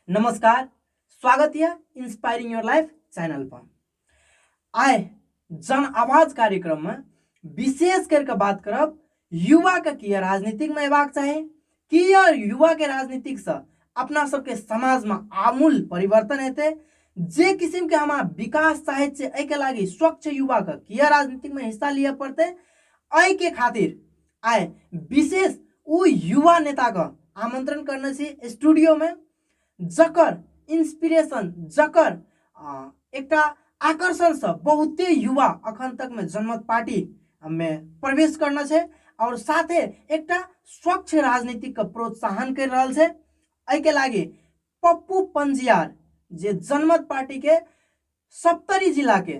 नमस्कार स्वागत यऽ इंस्पायरिंग योर लाइफ चैनल पर आइ जन आवाज कार्यक्रम में विशेष करके बात करब युवा के की राजनीतिक में अयबाक चाही की युवा के राजनीतिक से अपना सबके समाज में आमूल परिवर्तन हेतै जे किस्म के हमारा विकास चाहे एहिके लागी स्वच्छ युवा के किया राजनीतिक में हिस्सा लिया पड़ते एहि के खातिर आइ विशेष ओ युवा नेताके आमन्त्रण करने छी स्टूडियोमे जकर इंस्पिरेशन जकर एकटा आकर्षणसँ बहुते युवा अखन तकमे जनमत पार्टीमे प्रवेश करने छै आओर साथे एकटा स्वच्छ राजनीतिकके प्रोत्साहन करि रहल छै एहिके लागि पप्पू पंजियार जे जनमत पार्टीके सप्तरी जिलाके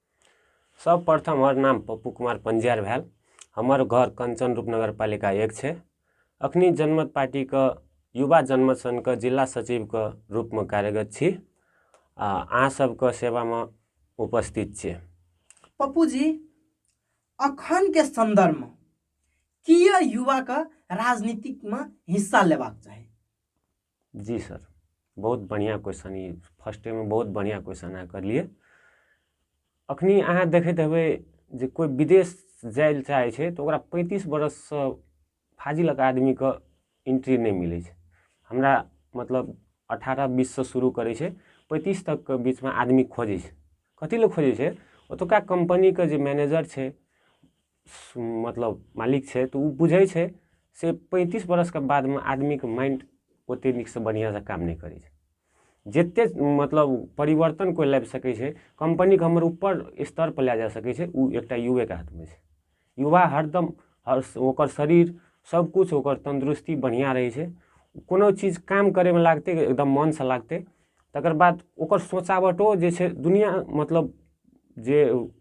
सर्वप्रथम हमर नाम पप्पू कुमार पञ्जीयार भेल हमर घर कञ्चन रूप नगरपालिका एक छै अखनी जनमत पार्टीके युवा जनमत सङ्घके जिला सचिवके रूपमे कार्यरत छी आ अहाँ सबके सेवामे उपस्थित छी पप्पू जी अखन के संदर्भ में किया युवा के राजनीतिक में हिस्सा लेबाक चाही जी सर बहुत बढ़िआँ क्वेश्चन ई फर्स्टेमे बहुत बढ़िआँ क्वेश्चन अहाँ करलियै अखनी अहाँ देखैत हेबै जे कोइ विदेश जाय लए चाहै छै तऽ ओकरा पैंतीस बरससँ फाजिलक आदमीके एंट्री नहि मिलै छै हमरा मतलब अठारह बीससँ शुरू करै छै पैंतीस तकके बीचमे आदमी खोजै छै कथी लए खोजै छै ओतुका कम्पनीके जे मैनेजर छै मतलब मालिक छै तऽ ओ बुझै छै से पैंतीस बरसके बादमे आदमीके माइंड ओते नीकसँ बढ़िआँसँ काम नहि करै छै जते मतलब परिवर्तन कोइ लाबि सकै छै कम्पनीके हमर उपर स्तर पर लए जा सकै छै ओ एकटा युवेके हाथमे छै युवा हरदम हर ओकर शरीर सब किछु ओकर तन्दुरुस्ती बढ़िआँ रहै छै कोनो चीज काम करैमे लागतै एकदम मनसँ लागतै तकर बाद ओकर सोचावटो जे छै दुनिआँ मतलब जे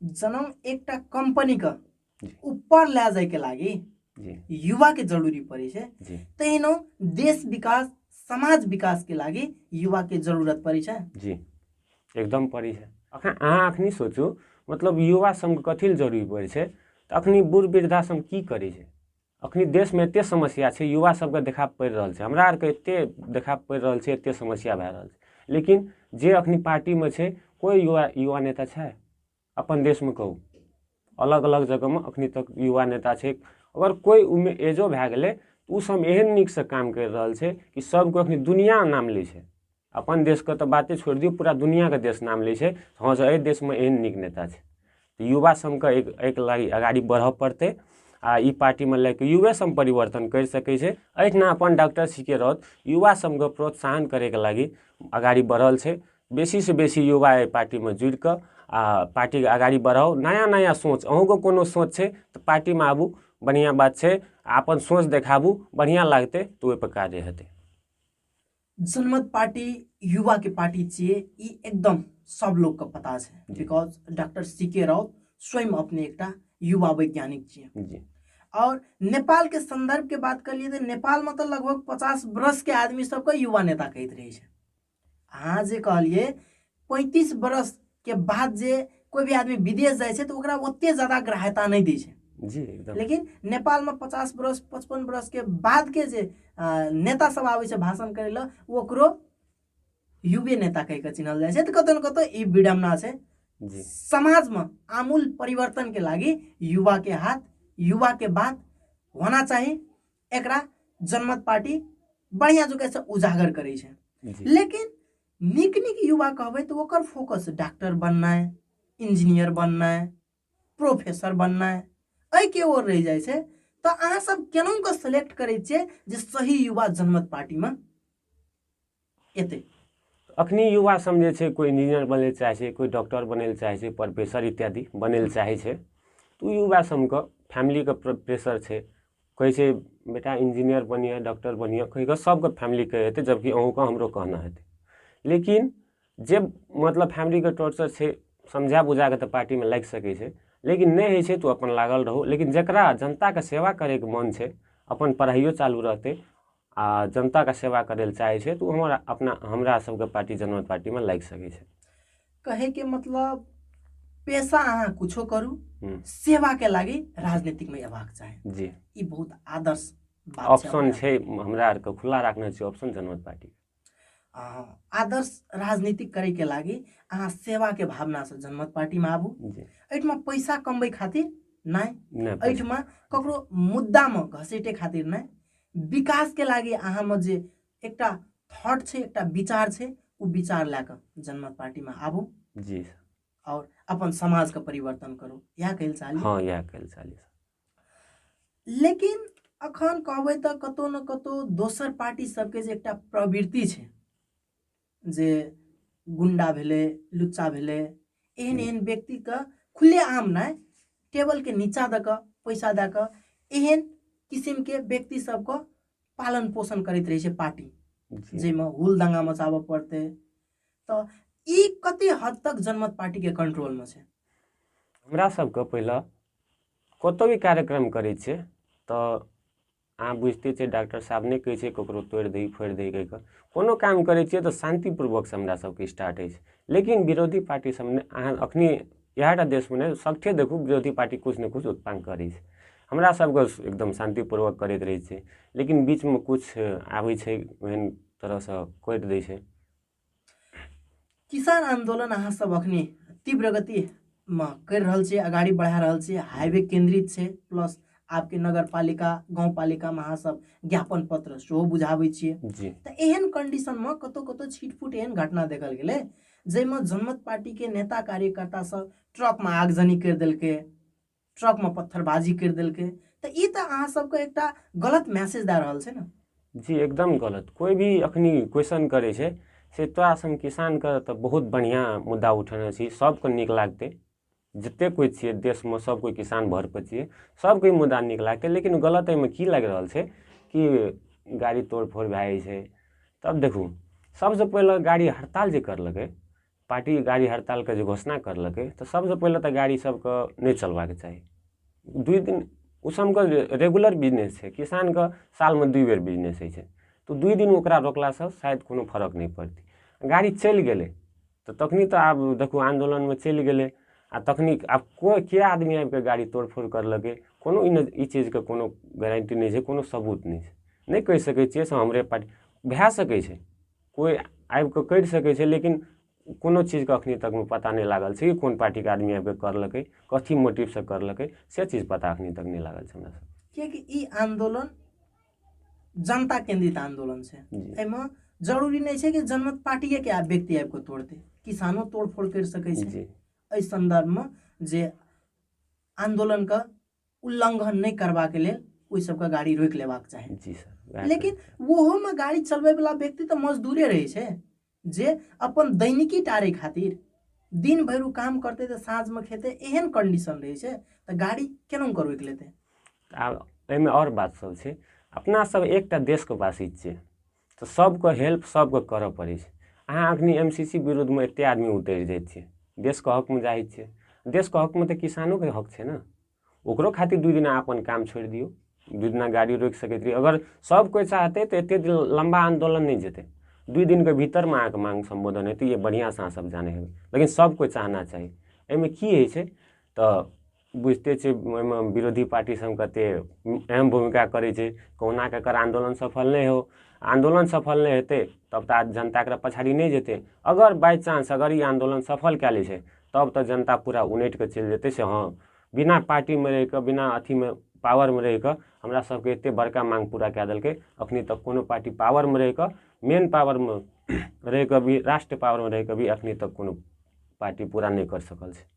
जनम एकटा कम्पनीके ऊपर लए जायके लागि युवाके जरुरी पड़ै छै तहिनो देश विकास समाज विकासके लागि युवाके जरुरत पड़ै छै जी एकदम पड़ै छै अखन अहाँ अखनी सोचू मतलब युवा सङ्घ कथी लए जरुरी पड़ै छै तऽ अखनी बूढ़ वृद्धा सङ्घ की करै छै अखनी देशमे एतेक समस्या छै युवा सबके देखा पड़ि रहल छै हमरा आरके एतेक देखा पड़ि रहल छै एतेक समस्या भए रहल छै लेकिन जे अखनी पार्टीमे छै कोइ युवा युवा नेता छै अपन देशमे कहू अलग अलग जगहमे अखनी तक युवा नेता छै अगर कोइ ओहिमे एजो भए गेलै तऽ ओ सब एहन नीकसँ काम करि रहल छै कि सबके अखनी दुनियाँ नाम लै छै अपन देशके तऽ बाते छोड़ि दियौ पूरा दुनिआँके देश नाम लै छै हँ से अइ देशमे एहन नीक नेता छै तऽ युवा सभके अइ अइके लागि अगाड़ी बढ़ऽ पड़तै आओर ई पार्टीमे लएके युवे सभ परिवर्तन करि सकय छै अहिना अपन डॉक्टर सी के राउत युवा सभके प्रोत्साहन करयके लागि अगाड़ी बढ़ल छै बेसीसँ बेसी युवा अइ पार्टीमे जुड़िकऽ आओर पार्टीके अगाड़ी बढ़ाउ नया नया सोच अहुँके कोनो सोच छै तऽ पार्टीमे आबू बढ़िआँ बात छै आओर अपन सोच देखाबू बढ़िआँ लागतय तऽ ओइपर काजे हेतय जनमत पार्टी युवा के पार्टी छिए ई एकदम सब लोग के पता छै because doctor C K Raut स्वयं अपने एकटा युवा वैज्ञानिक छिए जी और नेपाल के संदर्भ के बात कर लिए तो नेपाल में तो लगभग पचास वर्ष के आदमी सबके युवा नेता कहते रहे अहाँ जे कहलिए पैंतीस बरस के बाद जे कोई भी आदमी विदेश जाए छै तो ओकरा ओते ज्यादा ग्राह्यता नहीं दी छै जी एकदम लेकिन नेपाल में पचास बरस पचपन बरस के बाद के जे अ, नेता सब आबै छै भाषण करे ला ओकरो युवे नेता कह के चिन्हल जाए छै तो कतौ न कतौ ई विडम्बना छै जी समाज में आमूल परिवर्तन के लागी युवा के हाथ युवा के बात होना चाहिए एकरा जनमत पार्टी बढ़िया जगह से उजागर करे छै जी लेकिन नीक नीक युवा कहबै तऽ ओकर फोकस डॉक्टर बननाइ इंजीनियर बननाइ प्रोफेसर बननाइ एहिके ओर रहि जाइ छै तऽ अहाँ सब केना कऽ सेलेक्ट करै छियै जे सही युवा जनमत पार्टीमे एतै अखनी युवा सब जे छै कोइ इंजीनियर बनै लए चाहै छै कोइ डॉक्टर बनै लए चाहै छै प्रोफेसर इत्यादि बनै लए चाहै छै तऽ ओ युवा सबके फैमिलीके प्रेशर छै कहै छै बेटा इंजीनियर बनिए डॉक्टर बनिए कहिकऽ सभके फैमिलीके हेतै जबकि अहूँके हमरो कहना हेतै लेकिन जे मतलब फैमिलीके टॉर्चर छै समझा बुझाके तऽ पार्टीमे लागि सकै छै लेकिन नहि होइ छै तऽ अपन लागल रहू लेकिन जकरा जनताके सेवा करैके मोन छै अपन पढ़ाइओ चालू रहतै आओर जनताके सेवा करै लए चाहै छै तऽ ओ हमर अपना हमरा सबके पार्टी जनमत पार्टीमे लागि सकै छै कहैके मतलब पेशा अहाँ किछो करू हूँ। सेवाके लागि राजनीतिकमे अयबाक चाही जी ई बहुत आदर्श बात छै ऑप्शन छै हमरा आरके खुला राखने छै ऑप्शन जनमत पार्टी आदर्श राजनीति करैके लागि अहाँ सेवाके भावनासँ जनमत पार्टीमा आबू एहिठमा पैसा कमबै खातिर नहि एहिठमा ककरो मुद्दामे घसेटे खातिर नहि विकासके लागि अहाँमे जे एकटा थॉट छै एकटा विचार छै ओ विचार लए कऽ जनमत पार्टीमे आबू जी आओर अपन समाजके परिवर्तन करू इएह कहै लए चाहलियै हँ इएह कहै लए चाहलियै लेकिन अखन कहबै तऽ कतौ ने कतौ दोसर पार्टी सबके जे एकटा प्रवृत्ति छै जे गुंडा भेलै लुच्चा भेलै एहन एहन व्यक्तिके खुलेआम नहि टेबलके नीचा दऽ कऽ पैसा दऽ कऽ एहन किसिमके व्यक्ति सबके पालन पोषण करैत रहै छै पार्टी जाहिमे हुल दंगा मचाबऽ पड़तै तऽ ई कते हद तक जनमत पार्टी के कंट्रोल में छै हमरा सबके पहिले कतहु भी कार्यक्रम करै छियै तऽ अहाँ बुझिते छियै डॉक्टर साहब नहि कहै छै ककरो तोड़ि दही फोड़ि दही कहि कऽ कोनो काम करै छियै तऽ शान्तिपूर्वकसँ हमरा सबके स्टार्ट होइ छै लेकिन विरोधी पार्टी सब ने अहाँ अखनी इएह टा देशमे नहि सबठे देखू विरोधी पार्टी किछु ने किछु उत्पन्न करै छै हमरा सबके एकदम शान्तिपूर्वक करैत रहै छै लेकिन बीचमे किछु आबै छै ओहन तरहसँ कटि दै छै किसान आन्दोलन अहाँ सब अखने तीव्र गति मे करि रहल छै अगाड़ी बढ़ा रहल छै हाईवे केंद्रित छै प्लस आपके नगर पालिका गाँव पालिका में अहाँ सब ज्ञापन पत्र सेहो बुझाबै छियै जी तऽ एहन कंडीशन में कतौ कतौ छिटफुट एहन घटना देखल गेलै जाहिमे जनमत पार्टी के नेता कार्यकर्ता सब ट्रक में आगजनी करि देलकै ट्रकमे पत्थरबाजी करि देलकै तऽ ई तऽ अहाँ सबके एकटा गलत मैसेज दए रहल छै ने जी एकदम गलत कोइ भी अखनी क्वेश्चन करै छै से तोरा सन किसानके तऽ बहुत बढ़िआँ मुद्दा उठेने छी सबके नीक लागतै जतेक कोइ छियै देशमे सब कोइ किसान भरपर छियै सबके मुद्दा नीक लागतै लेकिन गलत एहिमे की लागि रहल छै कि गाड़ी तोड़फोड़ भए जाइ छै तब देखू सबसँ पहिले गाड़ी हड़ताल जे करलकै पार्टी गाड़ी हड़तालके जे घोषणा करलकै तऽ सबसँ पहिले तऽ गाड़ी सबके नहि चलबाक चाही दुइ दिन ओ सबके जे रेगुलर बिजनेस छै किसानके सालमे दुइ बेर बिजनेस होइ छै तऽ दुइ दिन ओकरा रोकलासँ शायद कोनो फरक नहि पड़तै गाड़ी चलि गेलै तऽ तखन तऽ आब देखू आन्दोलनमे चलि गेलै आओर तखन आब कोइ के आदमी आबिके गाड़ी तोड़फोड़ करलकै कोनो ई नहि ई चीजके कोनो गारन्टी नहि छै कोनो सबूत नहि छै नहि कहि सकै छिए से हमरे पार्टी भऽ सकै छै कोइ आबि कऽ करि सकै छै लेकिन कोनो चीजके एखन तकमे पता नहि लागल छै कि कोन पार्टीके आदमी आबि कऽ करलकै कथी मोटिवसँ करलकै से चीज पता एखन तक नहि लागल छै हमरा सबके किएकि ई आंदोलन जनता केंद्रित आंदोलन छै एहिमे जरूरी नहि छै कि जनमत पार्टिए के व्यक्ति आबि कऽ तोड़तै किसानो तोड़फोड़ करि सकै छै एहि संदर्भमे जे आंदोलनके उल्लंघन नहि करबाक लेल ओहि सबके गाड़ी रोकि लेबाक चाही जी सर वएह लेकिन ओहोमे गाड़ी चलबैवला व्यक्ति तऽ मजदूरे रहै छै जे अपन दैनिकी टारै खातिर दिन भरि ओ काम करतै तऽ साँझमे खेतै एहन कंडीशन रहै छै तऽ गाड़ी केना ओकर रोकि लेतै आब एहिमे आओर बात सब छै अपना सब एकटा देशके वासी छियै तऽ सबके हेल्प सबके करऽ पड़ै छै अहाँ अखनी एम सी सी विरोधमे एते आदमी उतरि जाइ छियै देशके हकमे जाइ छियै देशके हकमे तऽ किसानोके हक छै ने ओकरो खातिर दू दिना अपन काम छोड़ि दियौ दू दिना गाड़ी रोकि सकैत रहियै अगर सब कोइ चाहतै तऽ एते दिन लम्बा आन्दोलन नहि जेतै दू दिनके भीतरमे अहाँके माङ्ग सम्बोधन हेतै ई बढ़िआँसँ अहाँ सब जानै हेबै लेकिन सब कोइ चाहना चाही एहिमे की होइ छै तऽ बुझिते छियै ओहिमे विरोधी पार्टी सब कते अहम भूमिका करै छै कहुना कऽ एकर आन्दोलन सफल नहि हो आन्दोलन सफल नहि हेतै तब तऽ आब जनता एकरा पछाड़ी नहि जेतै अगर बाइ चान्स अगर ई आन्दोलन सफल कए लै छै तब तऽ जनता पूरा उनटि कऽ चलि जेतै से हँ बिना पार्टीमे रहि कऽ बिना अथीमे पावरमे रहि कऽ हमरा सबके एते बड़का माँग पूरा कए देलकै अखनी तक कोनो पार्टी पावरमे रहि कऽ मेन पावरमे रहि कऽ भी राष्ट्र पावरमे रहि कऽ भी अखनी तक कोनो पार्टी पूरा नहि करि सकल छै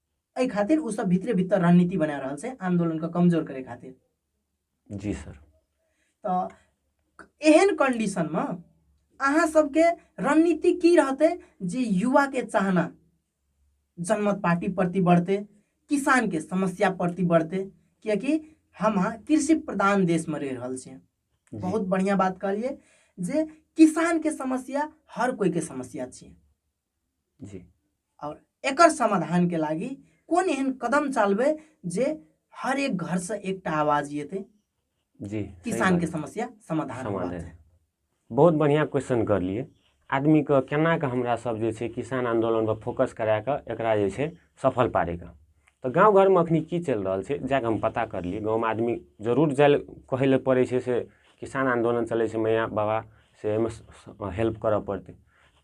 एहि खातिर ओ सब भीतरे भीतर रणनीति बना रहल छै आंदोलन के कमजोर करे खातिर जी सर तऽ एहन कंडीशन में अहाँ सबके रणनीति की रहते जे युवा के चाहना जनमत पार्टी प्रति बढ़ते किसान के समस्या प्रति बढ़ते कियकि हम अहाँ कृषि प्रधान देश में रह रहल छियै जी, बहुत बढ़िया बात कहलिए जे किसान के समस्या हर कोई के समस्या छियै जी और एकर समाधान के लागी कौन एहन कदम चालबे जे हर एक घर से एक टा आवाज येते जी किसान के समस्या समाधान समाधान बहुत बढ़िया क्वेश्चन कर लिए आदमी के केना के हमरा सब जे छे किसान आंदोलन पर फोकस करा के एकरा जे छे सफल पारे का तो गांव घर में अखनी की चल रहा छे जाके हम पता कर लिए गांव में आदमी जरूर जाए कहे ले पड़े छे से किसान आंदोलन चले छे मैया बाबा से हेल्प करऽ पड़ते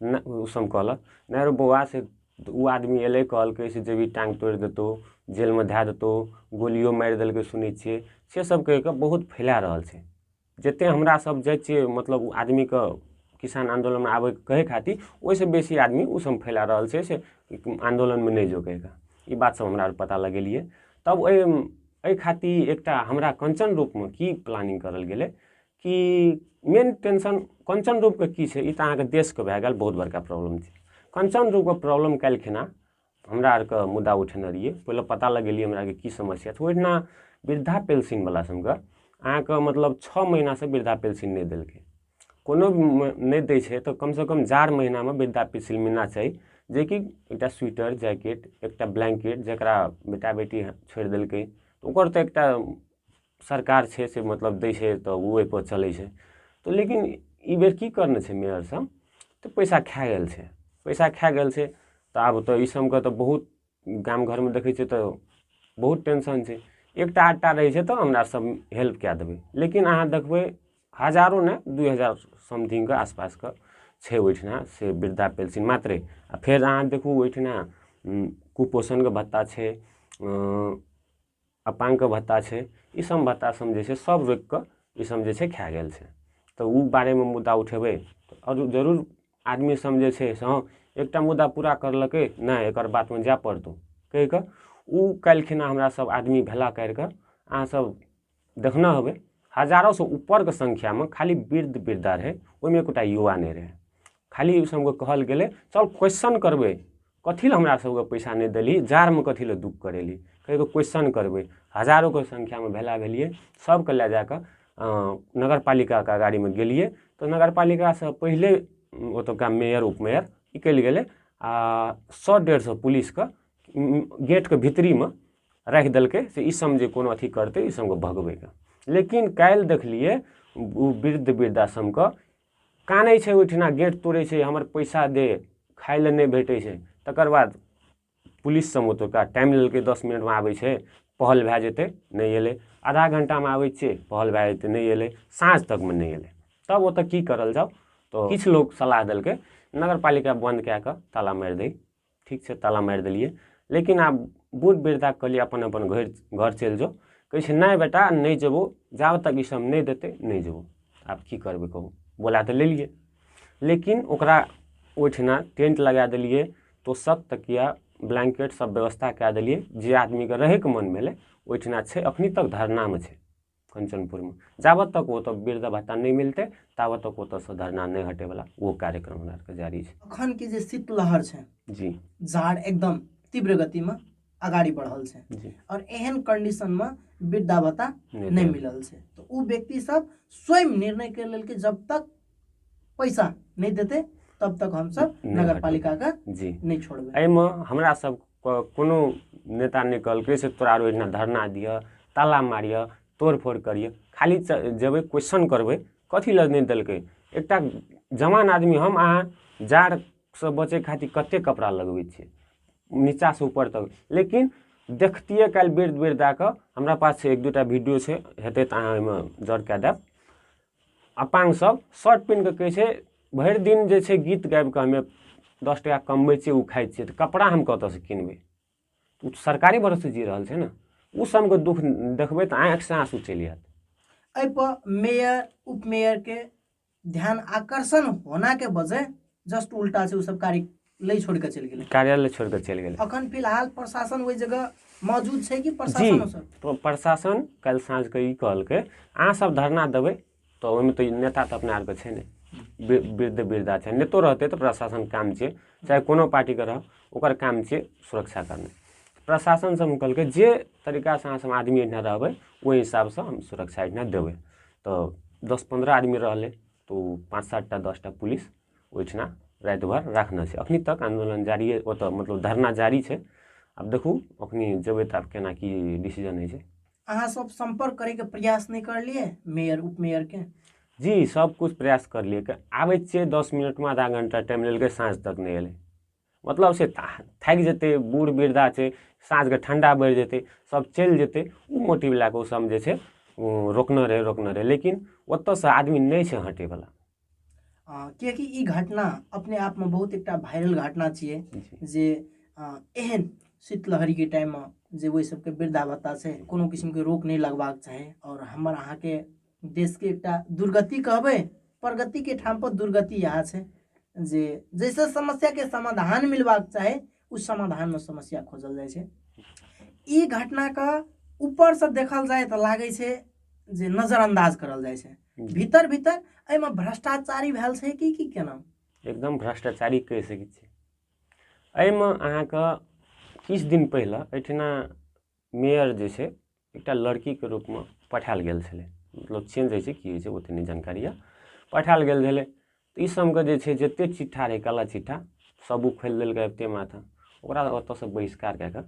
नहि ओ सब कहलक नहि रौ बौआ से ओ आदमी अयलै कहलकै से जेबही टाँग तोड़ि देतौ जेलमे धए देतौ गोलियो मारि देलकै सुनै छियै से सब कहि कऽ बहुत फैला रहल छै जते हमरा सब जाइ छियै मतलब ओ आदमीके किसान आन्दोलनमे आबैके कहै खातिर ओहिसँ बेसी आदमी ओ सब फैला रहल छै से आन्दोलनमे नहि जो कहि कऽ ई बात सब हमरा आर पता लगेलियै तब ओहि एहि खातिर एकटा हमरा कञ्चन रूपमे की प्लानिंग करल गेलै कि मेन टेंशन कंचन रूपके की छै ई तऽ अहाँके देशके भए गेल बहुत बड़का प्रॉब्लम छै कंचन रूपके प्रॉब्लम काल्हिखिना हमरा आरके मुद्दा उठेने रहियै पहिले पता लगेलियै हमरा आरके की समस्या छै ओहिना वृद्धा पेंशनवला सभके अहाँके मतलब छओ महीनासँ वृद्धा पेंशन नहि देलकै कोनो नहि दै छै तऽ कमसँ कम चार महीनामे वृद्धा पेंशन मिलना चाही जेकि एकटा स्वेटर जैकेट एकटा ब्लैंकेट जकरा बेटा बेटी छोड़ि देलकै ओकर तऽ एकटा सरकार छै से मतलब दै छै तऽ ओ ओहिपर चलै छै तऽ लेकिन ई बेर की करने छै मेयर सब तऽ पैसा खा गेल छै पैसा खा गेल छै तऽ आब तऽ ई सबके तऽ बहुत गाम घरमे देखै छियै तऽ बहुत टेंशन छै एकटा आधटा रहै छै तऽ हमरा सब हेल्प कए देबै लेकिन अहाँ देखबै हजारो ने दू हजार समथिंगके आसपासके छै ओहिठिना से वृद्धा पेंशन मात्रे आ फेर अहाँ देखू ओहिठिना कुपोषणके भत्ता छै अपाङ्गके भत्ता छै ईसब भत्ता सब जे छै सब रोकिके ईसब जे छै खै गेल छै तऽ ओ बारेमे मुद्दा उठेबै आओर जरूर आदमीसभ जे छै से हँ एकटा मुद्दा पूरा करलकै नहि एकर बादमे जाए पड़तौ कहिके ओ काल्हिखिना हमरासभ आदमी भेला करिके अहाँसभ देखने हेबै हजारोसे उपरके सँख्यामे खाली वृद्ध वृद्धा रहै ओहिमे एकोटा युवा नहि रहै खाली ओहिसभके कहल गेलै चल क्वेश्चन करबै कथी लए हमरा सबके पैसा नहि देली जाड़मे कथी लए दुख करेली कहियो क्वेश्चन करबै हजारोके संख्यामे भेला भेलियै सबके लए जा कऽ नगर पालिकाके अगाड़ीमे गेलियै तऽ नगर पालिकासँ पहिले ओतुका मेयर उपमेयर निकलि गेलै आ सए डेढ़ सए पुलिसके गेटके भीतरीमे राखि देलकै से ई सब जे कोनो अथी करतै ई सबके भगबैके लेकिन काल्हि देखलियै ओ वृद्ध वृद्धाश्रमके कानै छै ओहिठिना गेट तोड़ै छै हमर पैसा दे खाइ लए नहि भेटै छै तकर बाद पुलिस सब ओतुका टाइम लेलकै दस मिनटमे आबै छै पहल भए जेतै नहि एलै आधा घंटामे आबै छियै पहल भए जेतै नहि एलै साँझ तकमे नहि एलै तब ओतऽ की करल जाउ तऽ किछु लोक सलाह देलकै नगर पालिका बन्द कए कऽ ताला मारि दै ठीक छै ताला मारि देलियै लेकिन आब बहुत बेर तक कहलियै अपन अपन घर घर चलि जाउ कहै छै नहि बेटा नहि जेबौ जाब तक ई सब नहि देतै नहि जेबौ आब की करबै कहू बोला तऽ लेलियै लेकिन ओकरा ओहिठिना टेंट लगा देलियै तोसक तकिया ब्लैंकेट सब व्यवस्था कए देलियै जे आदमीके रहयके मन भेलै ओहिठिना छै अखनी तक धरनामे छै कञ्चनपुरमे जाबत तक ओतऽ वृद्ध भत्ता नहि मिलतै ताबत तक ओतऽसँ धरना नहि हटेवला ओ कार्यक्रम हमरा आरके जारी छै अखनके जे शीतलहर छै जी जाड़ एकदम तीव्र गतिमे अगाडि बढ़ल छै जी आओर एहन कन्डिशनमे वृद्धा भत्ता नहि मिलल छै तऽ ओ व्यक्ति सब स्वयं निर्णय कर लेल कि जब तक पैसा नहि देतै तब तक हमसब नहि नगर हटबै। पालिका के जी नहि छोड़बै एहिमे हमरा सब क- कोनो नेता नहि कहलकै से तोरा आर ओहिना धरना दिअ ताला मारिअ तोड़ फोड़ करिअ खाली च- जेबै क्वेश्चन करबै कथी लए नहि देलकै एकटा जवान आदमी हम अहाँ जाड़सँ बचै खातिर कतेक कपड़ा लगबै छियै नीचासँ ऊपर तक लेकिन देखतियै काल्हि बेर बेर दए कऽ हमरा पास छै एक दू टा वीडियो छै हेतै तऽ अहाँ ओहिमे जड़ कए देब अपाङ्ग सब शर्ट पेन्ह कऽ कहै छै भरि दिन जे छै गीत गाबि कऽ हमे दस टाका कमबै छियै ओ खाइ छियै तऽ कपड़ा हम कतऽसँ किनबै ओ तऽ सरकारी भरोसे जी रहल छै ने ओ सबके दुःख देखबै तऽ आँखिसँ आँसू चलि आयत एहिपर मेयर उपमेयरके ध्यान आकर्षण होनाके बजे जस्ट उल्टा छै ओ सब कार्य लै छोड़ कऽ चलि गेलै कार्यालय छोड़ि कऽ चलि गेलै अखन फिलहाल प्रशासन ओहि जगह मौजूद छै कि जी प्रशासन सब प्र- प्रशासन काल्हि साँझके ई कहलकै अहाँ सब धरना देबै तऽ ओहिमे तऽ ई नेता तऽ अपना आरके छै नहि वृ- वृद्ध वृद्धा छै नेतो रहतै तऽ प्रशासन काम छियै चाहे कोनो पार्टीके रह ओकर काम छियै सुरक्षा करनाइ प्रशासन सब कहलकै जे तरीकासँ अहाँ सब आदमी एहिठाम रहबै ओहि हिसाबसँ हम सुरक्षा एहिठाम देबै तऽ दस पन्द्रह आदमी रहलै तऽ ओ पाँच सात टा दस टा पुलिस ओहिठिना राति भर राखने छै एखन तक आन्दोलन जारिए ओतऽ मतलब धरना जारी छै आब देखू एखन जेबै तऽ आब केना की डिसीजन होइ छै अहाँ सब संपर्क करैके प्रयास नहि करलिए मेयर उपमेयरके जी सबकिछु प्रयास करलिए आबै छियै दस मिनटमे आधा घण्टा टाइम लेलकै साँझ तक नहि एलै मतलब से थाकि जेतै बूढ़ वृद्धा छै साँझके ठण्डा बढ़ि जेतै सभ चलि जेतै ओ मोटिव लए कऽ ओसभ जे छै ओ रोकने रहै रोकने रहै लेकिन ओतयसँ आदमी नहि छै हटयवला किएकि ई घटना अपने आपमे बहुत एकटा वायरल घटना छियै जे एहन शीतलहरीके टाइममे जे ओहि सभके वृद्धा भत्ता छै कोनो किसिमके रोक नहि लगबाक चाही आओर हमर अहाँके देशके एकटा दुर्गति कहबै प्रगतिके ठामपर दुर्गति इएह छै जे जैसे समस्याके समाधान मिलबाक चाही ओ समाधानमे समस्या खोजल जाइ छै ई घटनाके ऊपरसँ देखल जाय तऽ लागै छै जे नजरअंदाज करल जाइ छै भीतर भीतर एहिमे भ्रष्टाचारी भेल छै कि की केना एकदम भ्रष्टाचारी कहि सकै छी एहिमे अहाँके किछु दिन पहिले एहिठिना मेयर जे छै एकटा लड़कीके रूपमे पठाएल गेल छलै मतलब चेंज होइ छै की होइ छै ओतेक नहि जानकारी यऽ पठाएल गेल छलै तऽ ई सभके जे छै जतेक चिट्ठा रहै काला चिट्ठा सब ओ खोलि देलकै एतेक माथा ओकरा ओतऽसँ बहिष्कार कए कऽ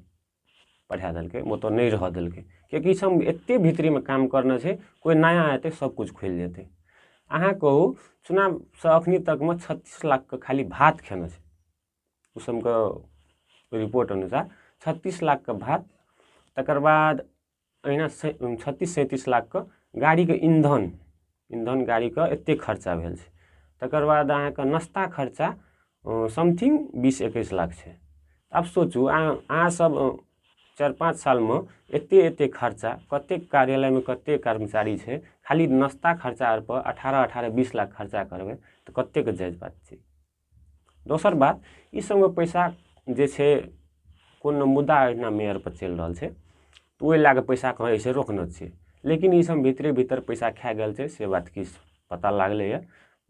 पठा देलकै ओतऽ नहि रहऽ देलकै किएकि ई सभ एतेक भीतरीमे काम करने छै कोइ नया एतै सभकिछु खोलि देतै अहाँ कहू चुनावसँ एखन तकमे छत्तीस लाखके खाली भात खेने छै मौसमके रिपोर्ट अनुसार छत्तीस लाखके भात तकर बाद अहिना छत्तीस सैंतीस लाखके गाड़ीके ईंधन ईंधन गाड़ीके एतेक खर्चा भेल छै तकर बाद अहाँके नाश्ता खर्चा समथिंग बीस एकैस लाख छै आब सोचू अहाँ अहाँसभ चारि पाँच सालमे एतेक एतेक खर्चा कतेक कार्यालयमे कतेक कर्मचारी छै खाली नाश्ता खर्चा अरपर अठारह अठारह बीस लाख खर्चा करबै तऽ कतेकके जायज बात छै दोसर बात ई सबमे पैसा जे छै कोनो मुद्दा एहिना मेयर पर चलि रहल छै तऽ ओहि लए कऽ पैसा कहाँ जाइ छै रोकने छै लेकिन ई सब भीतरे भीतर पैसा खा गेल छै से बात किछु पता लागलैया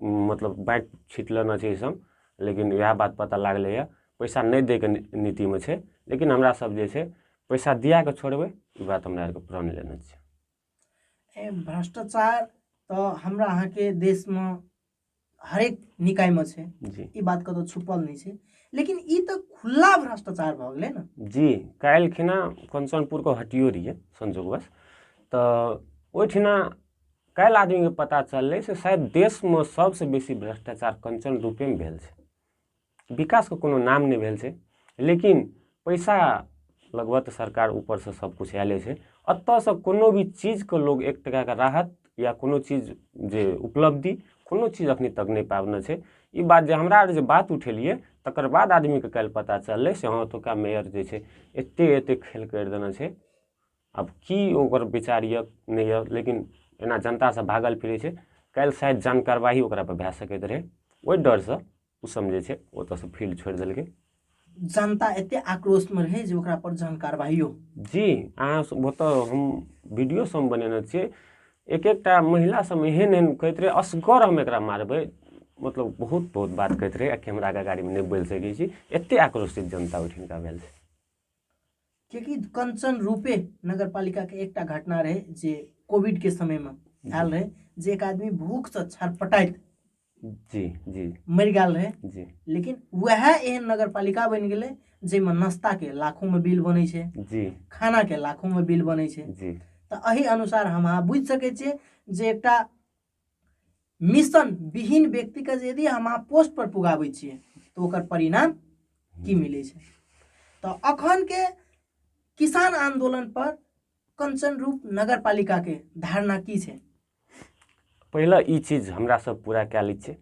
मतलब बाँटि छीट लेने छै ई सब लेकिन इएह बात पता लागलैया पैसा नहि दै कऽ नीतिमे छै लेकिन हमरा सब जे छै पैसा दिया कऽ छोड़बै ई बात हमरा आरके प्रण लेने छै भ्रष्टाचार तऽ हमरा अहाँके देशमे हरेक निकायमे छै जी ई बात कतौ छुपल नहि छै लेकिन ई तऽ खुला भ्रष्टाचार भऽ गेलै ने जी काल्हि खिना कंचनपुरके हटियो रहियै संजोगवश तऽ ओहिठिना काल्हि आदमीके पता चललै से शायद देशमे सभसँ बेसी भ्रष्टाचार कंचन रूपेमे भेल छै विकासके कोनो नाम नहि भेल छै लेकिन पैसा लगबऽ तऽ सरकार ऊपरसँ सबकिछु आयले छै एतऽसँ कोनो भी चीजके लोग एक टकाके राहत या कोनो चीज जे उपलब्धि कोनो चीज अखनी तक नहि पाबने छै ई बात जे हमरा आर जे बात उठेलियै तकर बाद आदमीके काल्हि पता चललै से हँ ओतुका मेयर जे छै एते एते खेल करि देने छै आब की ओकर विचार यऽ नहि यऽ लेकिन एना जनतासँ भागल फिरै छै काल्हि शायद जान कारवाही ओकरापर भए सकैत रहै ओहि डरसँ ओ समझै छै ओतऽसँ फील्ड छोड़ि देलकै जनता एते आक्रोशमे रहै जे ओकरा पर जहन कारवाइयो जी अहाँ ओतऽ हम वीडियो सब बनेने छियै एक एकटा महिला सब एहन एहन कहैत रहै असगर हम एकरा मारबै मतलब बहुत बहुत बात कहैत रहै आ कैमराके गाड़ीमे नहि बोलि सकै छी एते आक्रोशित जनता ओहिठिनका भेल छै किएकि कंचन रूपे नगर पालिकाके एकटा घटना रहै जे कोविडके समयमे आयल रहै जे एक आदमी भूखसँ छटपटाइत जी जी मरि गेल रहै जी लेकिन वएह एहन नगर पालिका बनि गेलै जाहिमे नाश्ताके लाखोमे बिल बनै छै जी खानाके लाखोमे बिल बनै छै जी तऽ एहि अनुसार हम अहाँ बुझि सकै छियै जे एकटा मिशन विहीन व्यक्तिके जे यदि अहाँ पोस्ट पर पुगाबै छियै तऽ ओकर परिणाम की मिलै छै तऽ अखन के किसान आंदोलन पर कंचन रूप नगर पालिका के धारणा की छै पहिले ई चीज हमरा सब पूरा कए लै छियै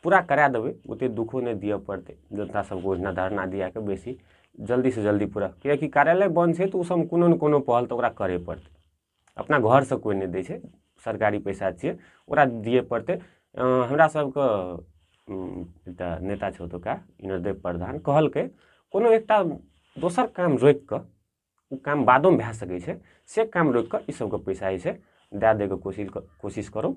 पूरा करा देबै ओते दुखो नहि दिअ पड़तै जनता सबके ओहिना धरना दिया कऽ बेसी जल्दी से जल्दी पूरा किएकि कार्यालय बन्द छै तऽ ओ सब कोनो ने कोनो पहल तऽ ओकरा करे पड़तै अपना घरसँ कोइ नहि दै छै सरकारी पइसा छिए ओकरा दिए पड़तै हमरासभके एकटा नेता छै ओतुका इनरदेव प्रधान कहलकै कोनो एकटा दोसर काम रोकिकऽ ओ काम बादोमे भऽ सकै छै से काम रोकिकऽ ईसबके पइसा जे छै दऽ दैके कोशिश कोशिश करू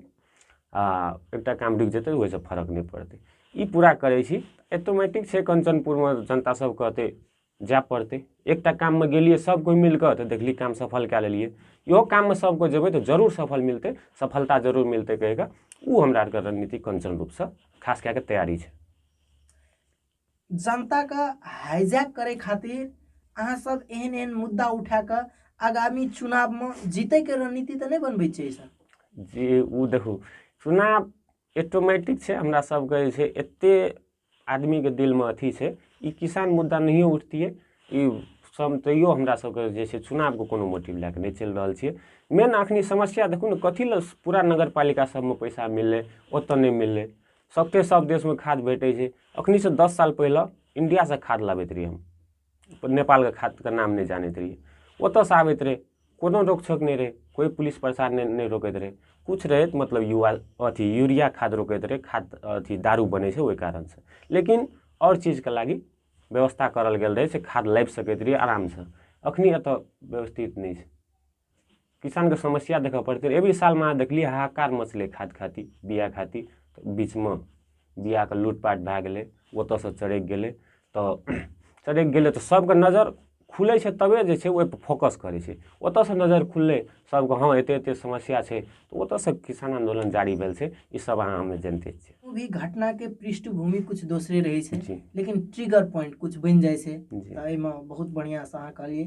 आओर एकटा काम रुकि जेतै ओहिसँ फरक नहि पड़तै ई पूरा करै छी ऑटोमेटिक छै कञ्चनपुरमे जनतासभके एतेक जाए पड़तै एकटा काममे गेलियै सभ कोइ मिलि कऽ तऽ देखली काम सफल कए लेलियै इहो काममे सभ कोइ जेबै तऽ जरूर सफल मिलतै सफलता जरूर मिलतै कहि कऽ ओ हमरा आरके रणनीति कंचन रूपसँ खास कए कऽ तैयारी छै जनताके हाइजैक करै खातिर अहाँ सब एहन एहन मुद्दा उठा कऽ आगामी चुनावमे जीतैके रणनीति तऽ नहि बनबै छै सर जे ओ देखू चुनाव ऑटोमेटिक छै हमरा सबके जे छै एते आदमीके दिलमे अथी छै ई किसान मुद्दा नहियो उठतियै ई सम तैयो हमरा सबके जे छै चुनावके कोनो मोटिव लए कऽ नहि चलि रहल छियै मेन अखनी समस्या देखू ने कथी लए पूरा नगर पालिका सबमे पैसा मिललै ओतऽ नहि मिललै सबके सब देशमे खाद भेटै छै अखनीसँ दस साल पहिले इंडियासँ खाद लाबैत रहियै हम नेपालके खातिर नाम नहि जानैत रहियै ओतऽसँ आबैत रहै कोनो रोकछोक नहि रहै कोइ पुलिस प्रशासन नहि नहि रोकैत रहै किछु रहै तऽ मतलब युवा अथी यूरिया खाद रोकैत रहै खाद अथी दारू बनै छै ओहि कारणसँ लेकिन आओर चीजके लागी व्यवस्था करल गेल रहै से खाद लाबि सकैत रहियै आरामसँ एखनि एतय व्यवस्थित नहि छै किसानके समस्या देखऽ पड़तै रहै एवरी सालमे अहाँ देखलियै हाहाकार मचलै खाद खातिर बिया खातिर तऽ बीचमे बियाके लूटपाट भए गेलै ओतऽसँ चरकि गेलै तऽ चरकि गेलै तऽ सबके नजर खुलै छै तबे जे छै ओइपर फोकस करै छै ओतऽसँ नजर खुललै सबके हँ एते एते समस्या छै तऽ ओतऽसँ किसान आन्दोलन जारी भेल छै ई सब अहाँ हमे जनिते छियै कोनो भी घटनाके पृष्ठभूमि कुछ दोसरे रहै छै जी। लेकिन ट्रिगर पॉइंट कुछ बनि जाइ छै जी। तऽ एहिमे बहुत बढ़िआँसँ अहाँ कहलियै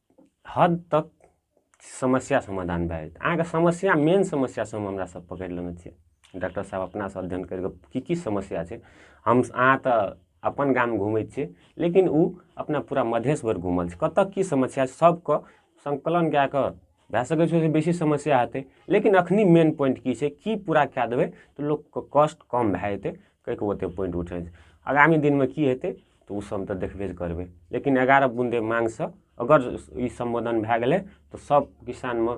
हद तक समस्या समाधान भए जेतै अहाँके समस्या मेन समस्या सब हमरा सब पकड़ि लेने छै डॉक्टर साहब अपनासँ अध्ययन करि कऽ की की समस्या छै हम अहाँ तऽ अपन गाम घुमै छियै लेकिन ओ अपना पूरा मधेश भरि घुमल छै कतऽ की समस्या छै सबके सङ्कलन कए कऽ भए सकै छै ओहिसँ बेसी समस्या हेतै लेकिन अखनी मेन पॉइंट की छै की पूरा कए देबै तऽ लोकके कष्ट कम भए जेतै कहैके ओते पॉइंट उठै छै आगामी दिनमे की हेतै तऽ ओ सब तऽ देखबे करबै लेकिन एगारह बुन्दे माँगसँ अगर ई सम्बोधन भए गेलै तऽ सब किसानमे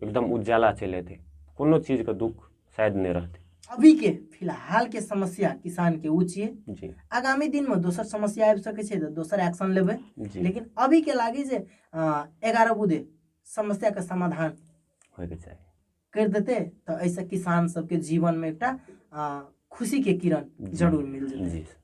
एकदम उज्जाला चलि एतै कोनो चीजके दुःख शायद नहि रहतै अभी के फिलहाल के समस्या किसान के उच्च छियै आगामी दिन में दोसर समस्या आबि सकै छै तऽ दोसर एक्शन लेबै लेकिन अभी के लागे जे एगारह बुधे समस्या के समाधान होयके चाही कर देते तऽ एहिसँ किसान सबके जीवनमे एकटा खुशीके किरण जरूर मिल जेतै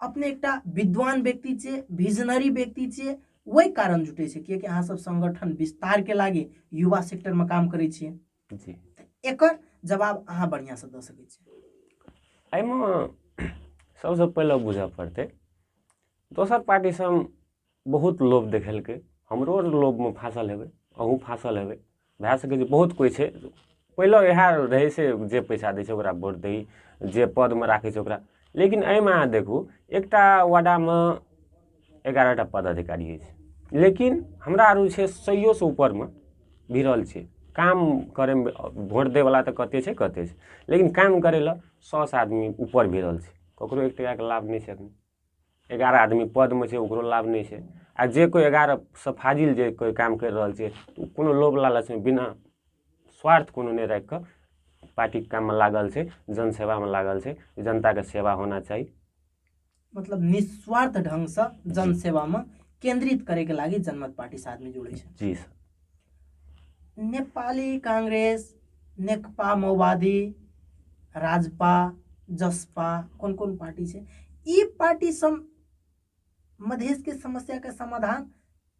अपने एकटा विद्वान व्यक्ति छे विजनरी व्यक्ति छे वही कारण जुटे छे किए कि अहाँ सब संगठन विस्तार के लागे युवा सेक्टर में काम करे छे जी एक जवाब अहाँ बढ़िया से द सके छे एम सबसे पहले बुझे पड़ते दोसर पार्टी से हम बहुत लोभ देखेलकै हमरो आर लोभमे फाँसल हेबै अहूँ फाँसल हेबै भए सकै छै बहुत कोइ छै पहिले इएह रहै से जे पैसा दै छै ओकरा भोट दही जे पदमे राखै छै ओकरा लेकिन एहिमे अहाँ देखू एकटा वाडामे एगारह टा पदाधिकारी अछि लेकिन हमरा आर छै सैयोसँ ऊपरमे भिड़ल छै काम करैमे भोट दैवला तऽ कतेक छै कतेक छै लेकिन काम करै लए सएसँ आदमी ऊपर भिड़ल छै ककरो एक टाकाके लाभ नहि छै एखन एगारह आदमी पदमे छै ओकरो लाभ नहि छै आ जे कोइ एगारहसँ फाजिल जे कोइ काम करि रहल छै ओ कोनो लोभ लालचमे बिना स्वार्थ कोनो नहि राखि कऽ पार्टीके काममे लागल छै जनसेवामे लागल छै जनताके सेवा होना चाही मतलब निस्वार्थ ढङ्गसँ जनसेवामे केन्द्रित करैके लागि जनमत पार्टीसँ आदमी जुड़ै छै जी सर नेपाली काङ्ग्रेस नेकपा माओवादी राजपा जसपा कोन कोन पार्टी छै ई पार्टी सम मधेशके समस्याके समाधान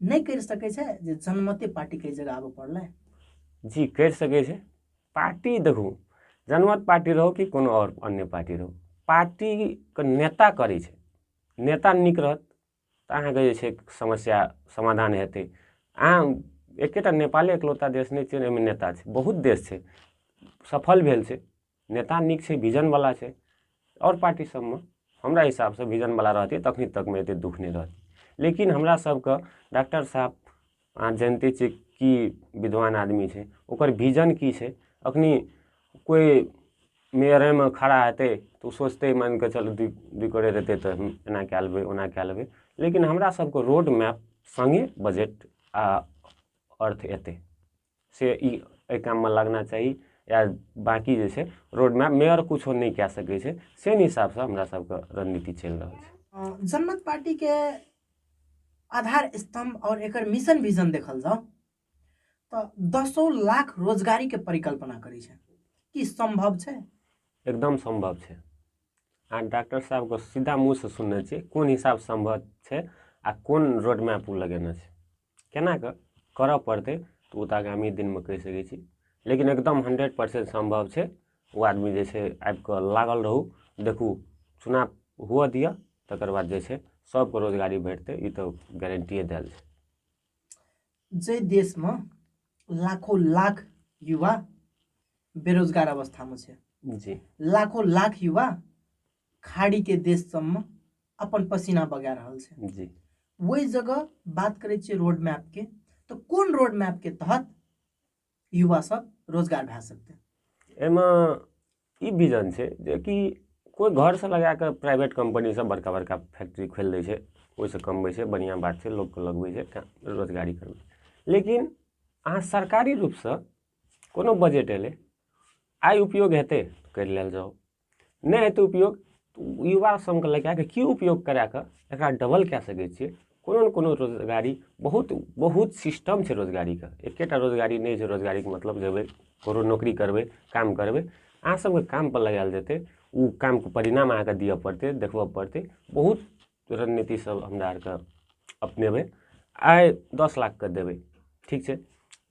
नहि करि सकै छै जे जनमते पार्टीके जगह आबऽ पड़लै जी करि सकै छै पार्टी देखू जनमत पार्टी रहो कि कोनो आओर अन्य पार्टी रहो पार्टीके नेता करै छै नेता नीक रहत तऽ अहाँके जे छै समस्या समाधान हेतै अहाँ एकेटा नेपाले एकलौता देश नहि छै जाहिमे नेता छै बहुत देश छै सफल भेल छै नेता नीक छै विजन बला छै आओर पार्टी सबमे हमरा हिसाब सऽ विजन बला रहतै तखने तकमे एते दुःख नहि रहतै लेकिन हमरा सबके डाक्टर साहेब अहाँ जनिते छियै की विद्वान आदमी छै ओकर विजन की छै अखनी कोइ मेयरेमे खड़ा हेतै तऽ ओ सोचतै मानि कऽ चलू दू दू करोड़ हेतै तऽ हम एना कए लेबै ओना कए लेबै लेकिन हमरा सभके रोड मैप सङ्गे बजट आ अर्थ अयतै से ई एहि काममे लगना चाही या बाँकी जे छै रोड मैप मेयर किछो नहि कए सकै छै से हिसाबसँ हमरा सबके रणनीति चलि रहल छै जनमत पार्टीके आधार स्तम्भ आओर एकर मिशन विजन देखल जाउ तऽ दसो लाख रोजगारीके परिकल्पना करै छै की सम्भव छै एकदम सम्भव छै आ डॉक्टर साहबके सीधा मुँहसँ सुनने छी कोन हिसाब सम्भव छै आ कोन रोड मैप ओ लगेने छै केना कऽ करऽ पड़तै तऽ ओ तऽ आगामी दिनमे कहि सकै छी लेकिन एकदम हंड्रेड परसेंट सम्भव छै ओ आदमी जे छै आबि कऽ लागल रहू देखू चुनाव हुअ दिअ तकर बाद जे छै सबके रोजगारी भेटतै ई तऽ गारंटिए देल छै जै देशमे लाखो लाख युवा बेरोजगार अवस्थामे छै जी लाखो लाख युवा खाड़ी के देश सब में अपन पसीना बगा रहल छै जी वही जगह बात करे छे रोड मैप के तो कौन रोड मैप के तहत युवा सब रोजगार भए सकते एहिमे ई विजन छै जे कि कोइ घरसँ लगा कऽ प्राइवेट कम्पनीसभ बड़का बड़का फैक्ट्री खोलि दै छै ओहिसँ कमबै छै बढ़िआँ बात छै लोकके लगबै छै का- रोजगारी करबै छै। लेकिन अहाँ सरकारी रूपसँ कोनो बजट एलै आइ उपयोग हेतै करि लेल जाउ नहि हेतै उपयोग युवा सभके लगा कऽ की उपयोग करा कऽ एकरा डबल कए सकै छियै कोनो ने कोनो रोजगारी बहुत बहुत सिस्टम छै रोजगारीके एकेटा रोजगारी नहि छै रोजगारीके मतलब जेबै कोनो नौकरी करबै काम करबै अहाँ सभके कामपर लगायल जेतै ओ कामके परिणाम अहाँकेँ दिअ पड़तै देखबय पड़तै बहुत रणनीतिसभ हमरा आरके अपनेबै आइ दस लाखके देबै ठीक छै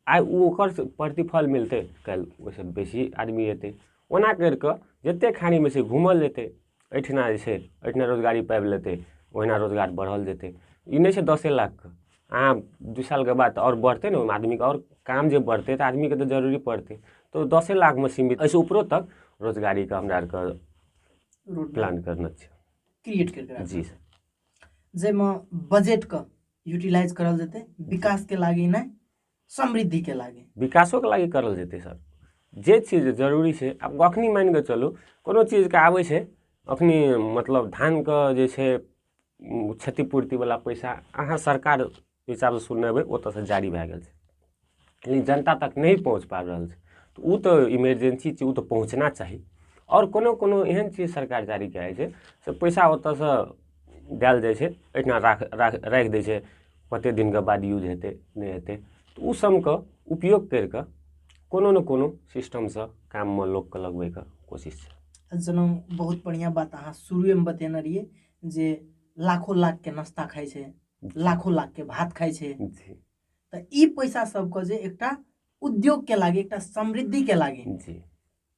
आइ ओ ओकर प्रतिफल मिलतै काल्हि ओहिसँ बेसी आदमी अयतै ओना करि कऽ जतेक खानीमे छै घूमल जेतै एहिठिना जे छै एहिठिना रोजगारी पाबि लेतै ओहिना रोजगार बढ़ल जेतै ई नहि छै दसे लाखके अहाँ दू सालके बाद तऽ आओर बढ़तै ने ओहिमे आदमीके आओर काम जे बढ़तै तऽ आदमीके तऽ जरूरी पड़तै तऽ ओ दसे लाखमे सीमित एहिसँ उपरो तक रोजगारीके हमरा आरके प्लान करने छै क्रिएट करि कऽ जी सर जाहिमे बजटके यूटिलाइज करल जेतै विकासके लागि नहि समृद्धिके लागि विकासोके लागि करल जेतै सर जे चीज जरूरी छै आब अखनी मानि कऽ चलू कोनो चीजके आबै छै अखनी मतलब धानके जे छै क्षतिपूर्तिवला पैसा अहाँ सरकार ओहि हिसाबसँ सुनने हेबै ओतऽसँ जारी भऽ गेल छै लेकिन जनता तक नहि पहुँच पाबि रहल छै तऽ ओ तऽ इमरजेन्सी छै ओ तऽ पहुँचना चाही आओर कोनो कोनो एहन चीज सरकार जारी कऽ दै छै से पइसा ओतऽसँ देल जाइ छै एहिठाम राखि राखि राखि दै छै कतेक दिनके बाद यूज हेतै नहि हेतै तऽ ओ सबके उपयोग करिके कोनो ने कोनो सिस्टमसँ काममे लोकके लगबैके कोशिश छै जेना बहुत बढ़िआँ बात अहाँ शुरुएमे बतेने रहिए जे लाखो लाखके नाश्ता खाइ छै लाखो लाख के भात खाइ छै जी तऽ ई पैसा सबके जे एकटा उद्योग के लागे एकटा समृद्धि के लागे जी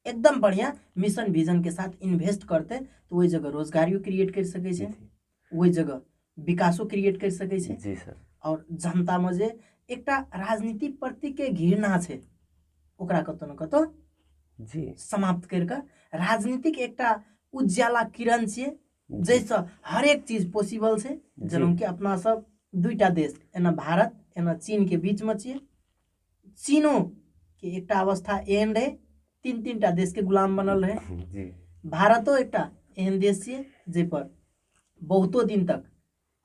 एकदम बढ़िया मिशन विजन के साथ इन्वेस्ट करते तऽ ओहि जगह रोजगारियो क्रिएट करि सकै छै जी ओहि जगह विकासो क्रिएट करि सकै छै जी सर आओर जनतामे जे एकटा राजनीति प्रति के घृणा छै ओकरा कतौ ने कतौ जी समाप्त करि कऽ राजनीतिक एकटा उज्याला किरण छियै जाहिसँ हरेक चीज पॉसिबल छै जेनाकि अपना सब दुईटा देश एना भारत एना चीनके बीचमे छियै चीनोके एकटा अवस्था एहन रहै तीन तीन टा देशके गुलाम बनल रहै भारतो एकटा एहन देश छियै जाहिपर बहुतो दिन तक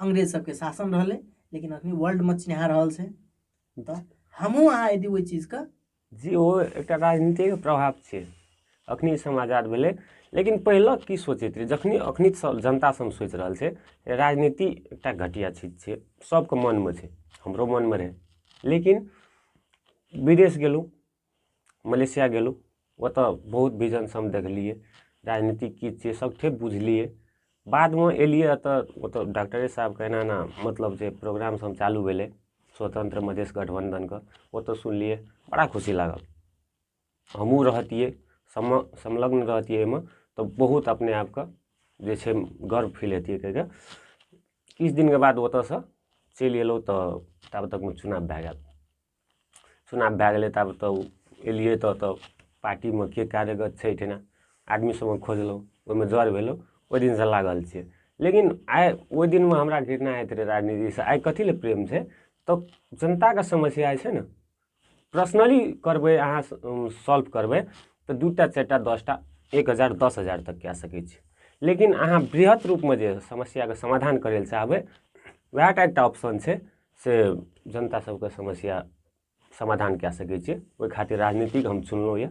अंग्रेज सबके शासन रहलै लेकिन अखनी वर्ल्डमे चिन्हा रहल छै तऽ हमहूँ अहाँ यदि ओहि चीजके जे ओ एकटा राजनीतिक प्रभाव छै अखनी समय आजाद भेलै लेकिन पहिले की सोचैत रहै जखनी अखनी सब जनता सब सोचि रहल छै राजनीति एकटा घटिया चीज छै सबके मनमे छै हमरो मनमे रहै लेकिन विदेश गेलहुँ मलेशिया गेलहुँ ओतऽ बहुत विजन सब देखलियै राजनीति की छियै सब किछु बुझलियै बादमे अएलिए एतऽ ओतऽ डॉकटरे साहेबके एना एना मतलब जे प्रोग्राम सब चालू भेलै स्वतन्त्र मधेश गठबन्धनके ओतऽ सुनलिए बड़ा खुशी लागल हमहूँ रहतिए सम संलग्न रहतिए ओहिमे तऽ बहुत अपने आपके जे छै गर्व फील हेतिए कहिके किछु दिनके बाद ओतऽसे चलि अएलहुँ तऽ ताबे तकमे चुनाव भए गेल चुनाव भए गेलै तऽ आब तऽ एलियै तऽ ओतऽ पार्टीमे के कार्यगत छै एहिठिना आदमी सबमे खोजलहुँ ओहिमे जर भेलहुँ ओहि दिनसँ लागल छियै लेकिन आइ ओहि दिनमे हमरा घृणा होइत रहै राजनीतिसँ आइ कथी लए प्रेम छै तऽ जनताके समस्या छै ने पर्सनली करबै अहाँ सॉल्व करबै तऽ दू टा चारि टा दस टा एक हजार दस हजार तक कए सकै छी लेकिन अहाँ वृहत रूपमे जे समस्याके समाधान करै लए चाहबै वएह टा एकटा ऑप्शन छै से जनता सबके समस्या समाधान कए सकै छियै ओहि खातिर राजनीतिक हम चुनलहुँ यऽ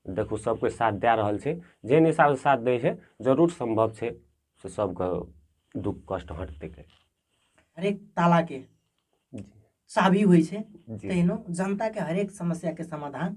देखू सब कोइ साथ दए रहल छै जेहन हिसाबसँ साथ दै छै जरूर सम्भव छै से सबके दुख कष्ट हटतै के हरेक तालाके जी चाबी होइ छै जी तहिनो जनताके हरेक समस्याके समाधान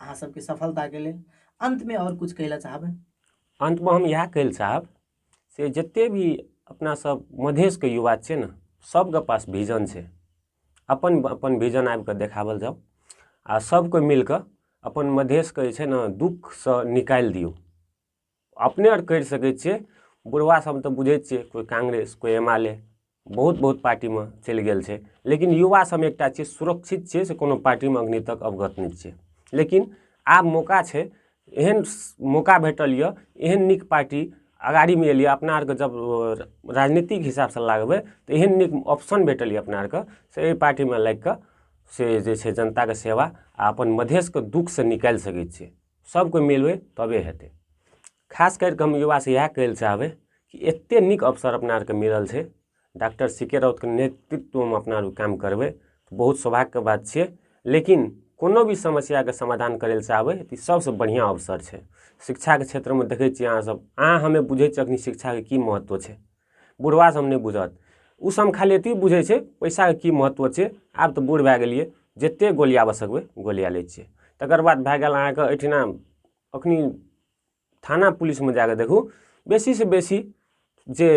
अहाँ सबके सफलता के लेल अंत में और कुछ कहला चाहबे अंत में हम इएह कहला चाहब से जते भी अपना सब मधेश के युवा छै ने सबके पास विजन छै अपन अपन विजन आबि कऽ देखाबल जाउ आ सबके मिल कऽ अपन मधेश के जे छै ने दुःख सऽ निकालि दियौ अपने आर करि सकैत छियै बुढ़वा सब तऽ बुझै छियै कोइ कांग्रेस कोइ एम एल ए बहुत बहुत पार्टीमे चलि गेल छै लेकिन युवा सब एकटा छियै सुरक्षित छियै से कोनो पार्टीमे अखनी तक अवगत नहि छियै लेकिन आब मौका छै एहन मौका भेटल यऽ एहन नीक पार्टी अगाड़ी मे एलियै अपना आरके जब राजनीतिक हिसाब सऽ लागबै तऽ एहन नीक ऑप्शन भेटल यऽ अपना आरके से एहि पार्टी मे लागि कऽ से जे छै जनता के सेवा आ अपन मधेश के दुःख सऽ निकालि सकै छियै सब कोइ मिलबै तबे हेतै खास करिके हम युवासँ इएह कहै लए चाहबै कि एते नीक अवसर अपना आरके मिलल छै डॉक्टर सी के राउतके नेतृत्वमे अपना आर काम करबै बहुत सौभाग्यके बात छियै लेकिन कोनो भी समस्याके समाधान करै लए चाहबै तऽ ई सबसँ बढ़िआँ अवसर छै शिक्षाके क्षेत्रमे देखै छियै अहाँ सब अहाँ हमे बुझै छियै अखनी शिक्षाके की महत्व छै बुढ़वा सब नहि बुझत ओ सब खाली एतबी बुझै छै पैसाके की महत्व छै आब तऽ बूढ़ भए गेलियै जते गोलियाबऽ सकबै गोलिया लै छियै तकर बाद भए गेल अहाँके एहिठिना अखनी थाना पुलिसमे जाकऽ देखू बेसी से बेसी जे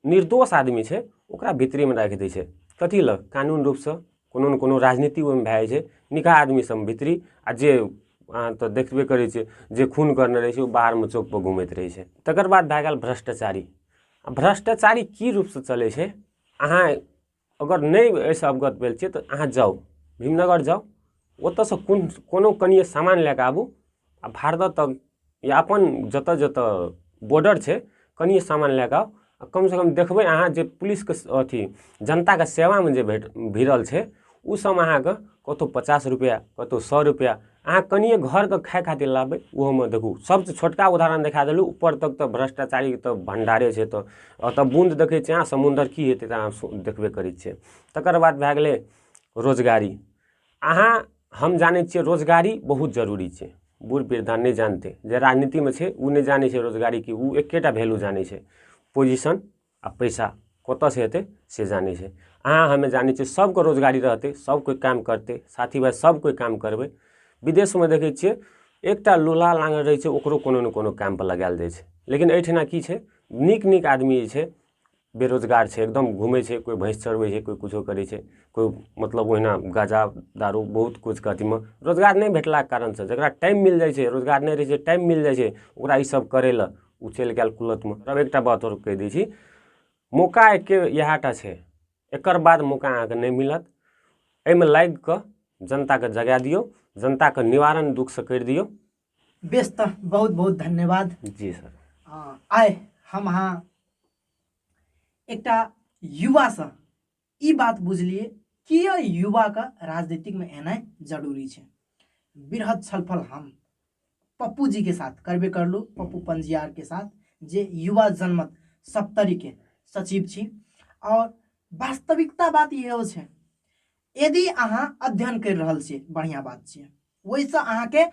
निर्दोष आदमी छै ओकरा भीतरेमे राखि दै छै कथी लए कानून रूपसँ कोनो ने कोनो राजनीति ओहिमे भए जाइ छै निकहा आदमी सभ भीतरी आ जे अहाँ तऽ देखबे करै छियै जे खून करने रहै छै ओ बाहरमे चौक पर घुमैत रहै छै तकर बाद भए गेल भ्रष्टाचारी आ भ्रष्टाचारी की रूपसँ चलै छै अहाँ अगर नहि एहिसँ अवगत भेल छियै तऽ अहाँ जाउ भीमनगर जाउ ओतयसँ कोन कोनो कनिए सामान लए कऽ आबू आ भारदह तक या अपन जतऽ जतऽ बॉर्डर छै कनिये सामान लए कऽ आउ कम सँ कम देखबय अहाँ जे पुलिसके अथी जनताके सेवामे जे भेट भिरल छै उ सबमे अहाँके कतहु पचास रुपैआ कतहु सओ रुपैआ अहाँ कनिये घरके खाइ खातिर लाबबय ओहोमे देखू सबसँ छोटका उदाहरण देखा देलहुँ उपर तक तऽ भ्रष्टाचारी तऽ भण्डारे छै एतऽ एतऽ बूँद देखय छियै अहाँ समुन्दर की हेतय तऽ अहाँ देखबे करय छियै तकर बाद भए गेलय रोजगारी अहाँ हम जानै छियै रोजगारी बहुत जरूरी छै बूढ़ वृद्धा नहि जानतै जे राजनीतिमे छै ओ नहि जानै छै रोजगारीके ओ एकेटा वैल्यू जानै छै पोजिशन आ पैसा कतयसँ हेतै से जानै छै अहाँ हमे जानै छियै सभके रोजगारी रहतै सभ कोइ काम करतै साथी भाय सभ कोइ काम करबै विदेशमे देखै छियै एकटा लोला लाँगड़ रहै छै ओकरो कोनो ने कोनो कामपर लगायल जाइ छै लेकिन एहिठिना की छै नीक नीक आदमी जे छै बेरोजगार छै एकदम घुमै छै कोइ भैँस चरबै छै कोइ किछु करै छै कोइ मतलब ओहिना गाँजा दारू बहुत किछुके अथीमे रोजगार नहि भेटलाके कारणसे जकरा टाइम मिलि जाइ छै रोजगार नहि रहै छै टाइम मिलि जाइ छै ओकरा ईसब करैले ओ चलि गेल कुलथमे तब एकटा बात आओर कहि दै छी मौका एक्के इएहटा छै एकर बाद मौका अहाँके नहि मिलत एहिमे लागिके जनताके जगै दिऔ जनताके निवारण दुखसे करि दिऔ बेस त बहुत बहुत धन्यवाद जी सर अँ, आइ हम अहाँ एकटा युवासँ ई बात बुझलिए किए युवाके राजनीतिकमे एनाइ जरूरी छै बृहद छलफल हम पप्पू जी के साथ करबे करलू पप्पू पंजियार के साथ जे युवा जनमत सप्तरी के सचिव छी और वास्तविकता बात इहो छै यदि अहाँ अध्ययन करि रहल छियै बढ़िया बात छियै ओहिसँ अहाँके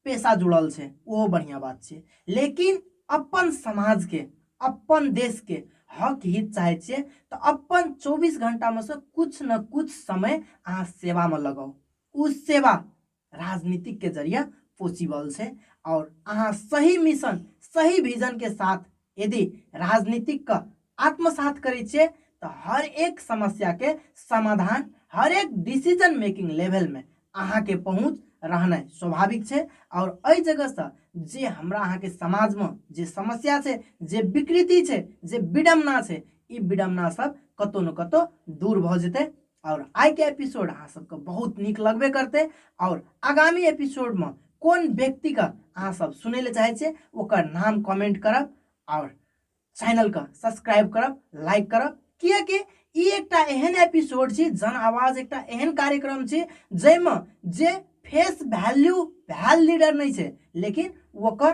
पेशा जुड़ल छै ओहो बढ़िआँ बात छै लेकिन अपन समाजके अपन देशके हक हित चाहै छियै तऽ अपन चौबीस घंटामे से कुछ न कुछ समय अहाँ सेवामे लगाउ ओ सेवा राजनीतिकके जरिए पॉसिबल छै आओर अहाँ सही मिशन सही विजनके साथ यदि राजनीतिक के आत्मसात करे छे तो हर एक समस्या के समाधान हर एक डिसीजन मेकिंग लेवल में अहा के पहुंच रहना स्वाभाविक छे और अ जगह से जे हमरा अहा के समाज में जे समस्या छे जे विकृति छे जे विडम्बना छे इ विडम्बना सब कतो न कतो दूर भ जते आओर आइके एपिसोड अहाँ सबके बहुत नीक लगबे करतै आओर आगामी एपिसोडमे कोन व्यक्तिके अहाँ सब सुनै लए चाहै छियै ओकर नाम कमेंट करब आओर चैनलके सब्सक्राइब करब लाइक करब किएकि ई एकटा एहन एपिसोड छी जन आवाज एकटा एहन कार्यक्रम छी जाहिमे जे फेस वैल्यू भैल लीडर नहि छै लेकिन ओकर